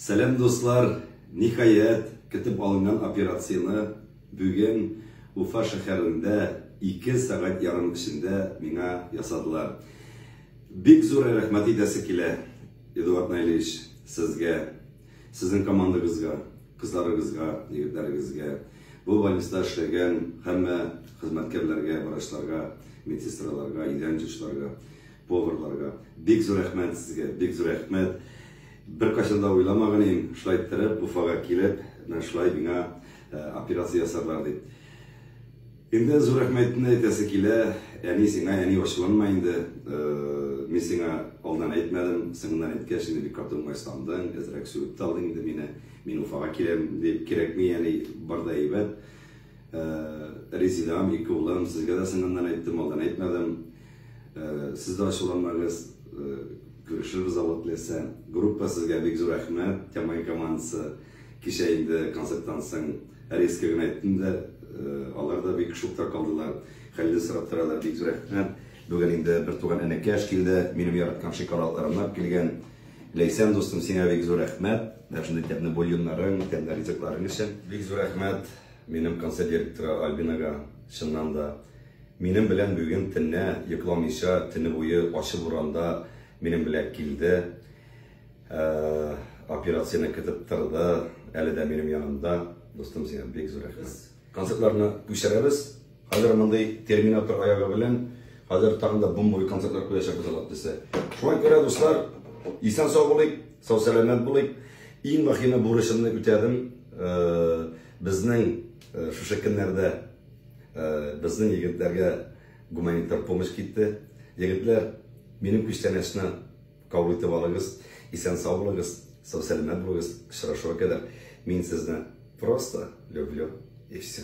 Сәлам дуслар! Ниһаять, көтеп алынган операцияне бүген Уфа шәһәрендә ике сәгать ярым эчендә миңа ясадылар. Бик зур рәхмәт әйтәсе килә, Эдуард Наилевич, сезгә, сезнең командагызга, кызларыгызга, егетләрегезгә, бу больниста эшләгән һәммә хезмәткәрләргә, врачларга, медсестраларга, идән жуучыларга. Поварларга бик зур рәхмәт сезгә, бик зур рәхмәт. Беркайчан да уйламаган идем, шулай торып, Уфага килеп, менә шулай миңа операция ясарлар дип. Инде зур рәхмәтне әйтәсе килә, әни сиңа, әни ачуланма инде, мин сиңа алдан әйтмәдем, соңыннан әйткәч, инде бик каты уңайсыздандың, әзрәк сүгеп тә алдың инде мине, мин Уфага киләм дип, кирәкми, әни, бар да әйбәт. Резидам, ике улым, сезгә дә соңыннан әйттем, алдан әйтмәдем. Сез дә ачуланмагыз, күрешербез Алла теләсә. Группа сезгә бик зур рәхмәт, Тямай командасы, кичә инде концерттан соң резко гына әйттем дә, алар да бик шокта калдылар. Хәлне сорап торалар, бик зур рәхмәт. Бүген инде бертуган энекәш килде, минем яраткан шикараларымнар килгән. Ләйсән дустым сиңа бик зур рәхмәт, дәшне тәмле бульоннарың, тәмле ризыкларың өчен. Бик зур рәхмәт минем концерт директоры Альбинага, чыннан да, минем белән бүген төнне йокламыйча, төне буе ачы буранда минем белән килде, операцияне көтеп торды, әле дә минем янымда, дустым сиңа бик зур рәхмәт. Концертларны күчерәбез. Хәзер мондый терминатор аягы белән хәзер тагын да бомбовый концертлар куячакбыз Аллаһ теләсә. Шуңа күрә, дуслар, исән сау булыйк, сау сәламәт булыйк. Иң мөһиме бурычымны үтәдем. Безнең шушы көннәрдә безнең егетләргә гуманитар помощь китте. Егетләр, минем күчтәнәчне. Кабул итеп алыгыз, исән-сау булыгыз, сау-сәламәт булыгыз, очрашуга кадәр, мин сезне просто люблю и все.